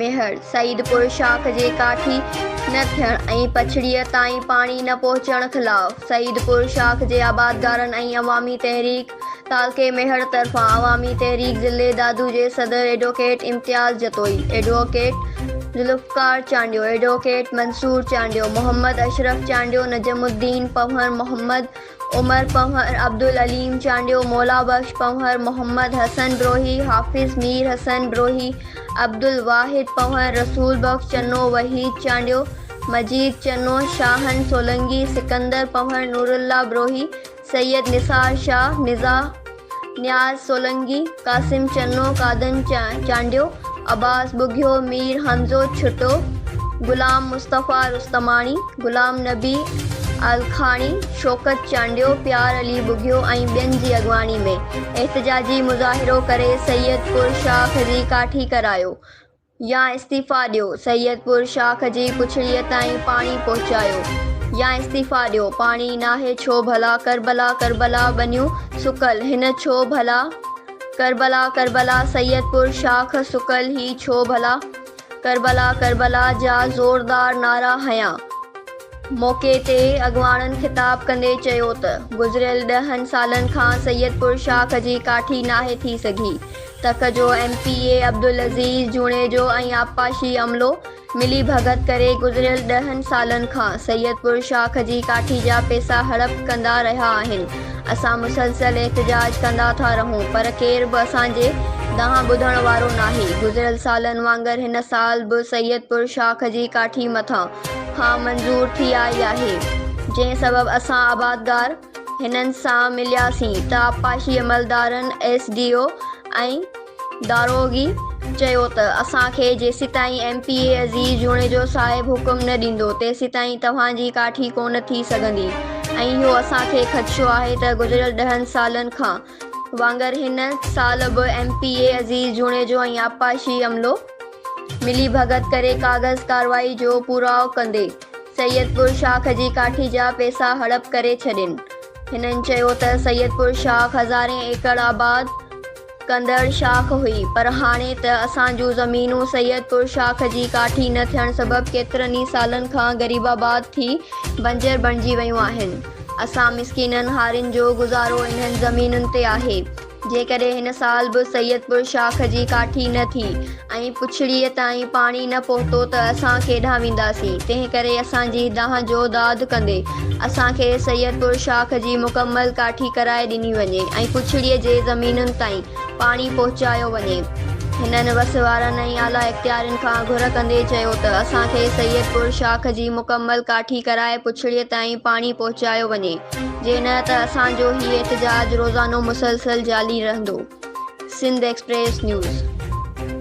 ميهڙ، سعيدپور شاخ جي ڪاٺي نه ٿيڻ ۽ پڇڙيء تائين پاڻي نه پهچڻ خلاف سعيدپور شاخ جي آبادگارن ۽ عوامي تحريڪ، تعلقي ميهڙ طرفان عوامي تحريڪ ضلعي دادو جي صدر advocate Imtiaz Jatoi, advocate Zulfiqar Chandio, advocate Mansoor Chandio, Muhammad Ashraf Chandio, Najmuddin Panhwar, Muhammad Umar Panhwar, Abdul Aleem Chandio, Mola Bux Panhwar, Muhammad حسن بروهي، حافظ مير حسن بروهي، عبدالواحد پنهور، رسول بخش چنو، وحيد چانڊيو، مجيد چنو، شاهن سولنگي، سڪندر پنهور، نورالله بروهي، سيد نثار شاهه، نزا، نياز سولنگي، قاسم چنو، قادن چانڊيو، عباس ٻگهيو، مير حمزو ڇٽو، غلام مصطفيٰ رستماڻي، غلام نبي الکاڻي، شوڪت چانڊيو، پيار علي ٻگهيو ۽ ٻين جي اڳواڻي ۾ احتجاجي مظاهرو ڪري سيد پور شاخ جي ڪاٺي ڪرايو. يا استعيفيٰ ڏيو، سيدپور شاخ جي پڇڙيء تائين پاڻي پهچايو، يا استعيفيٰ ڏيو، پاڻي ناهي ڇو ڀلا، ڪربلا ڪربلا ٻنيون سڪل، هن ڇو ڀلا، ڪربلا ڪربلا سيدپور شاخ سڪل، هي ڇو ڀلا، ڪربلا ڪربلا جا زوردار نعرا هنيا. موقعي تي اڳواڻن خطاب ڪندي چيو ته گذريل ڏهن سالن کان سيدپور شاخ جي ڪاٺي ناهي ٿي سگهي، تڪ جو M P A Abdul Aziz Junejo ۽ آبپاشي عملو ملي ڀڳت ڪري گذريل ڏهن سالن کان سيدپور شاخ جي ڪاٺي جا پيسا هڙپ ڪندا رهيا آهن اسان مسلسل احتجاج ڪندا ٿا رهون پر ڪير به اسان جي دانهن ٻڌڻ وارو ناهي گذريل سالن وانگر هن سال به سيدپور شاخ جي ڪاٺي مٿان کان منظور ٿي آئي آهي جنهن سبب اسان آبادگار هنن سان ملياسين ته آبپاشي عملدارن، ايس ڊي او ۽ داروغي چيو ته اسان کي جيسيتائين M P A Aziz Junejo صاحب حڪم نه ڏيندو تيسيتائين توهان جي ڪاٺي ڪونه ٿي سگهندي ۽ اهو اسان کي خدشو آهي ته گذريل ڏهن سالن کان وانگر هن سال به M P A Aziz Junejo ۽ آبپاشي عملو ملي ڀڳت ڪري ڪاغذ ڪارروائي جو پورائو ڪندي سيدپور شاخ جي ڪاٺي جا پيسا هڙپ ڪري ڇڏين. هنن چيو ته سيدپور شاخ هزارين ايڪڙ آباد ڪندڙ شاخ هئي پر هاڻي ته اسان جون زمينون سيدپور شاخ جي ڪاٺي نه ٿيڻ سبب ڪيترن ئي سالن کان غريبآباد ٿي بنجر بڻجي ويون آهن. اسان مسڪينن هارين جو گذارو انهن زمينن تي آهي. جيڪڏهن هن سال به سيدپور شاخ جي ڪاٺي نه ٿي ۽ پڇڙيء تائين پاڻي نه پهتو ته اسان ڪيڏانهن وينداسين؟ تنهنڪري اسان جي دانهن جو داد ڪندي اسان کي سيدپور شاخ جي مڪمل ڪاٺي ڪرائي ڏني وڃي ۽ پڇڙيء جي زمينن تائين پاڻي پهچايو وڃي. هنن وس وارن ۽ اعليٰ اختيارين کان گهر ڪندي چيو ته اسان کي سيد پور شاخ جي مڪمل ڪاٺي ڪرائي پڇڙيء تائين پاڻي پهچايو وڃي جي نه ته اسان جو هي احتجاج روزانو مسلسل جالي رهندو. Sindh Express news.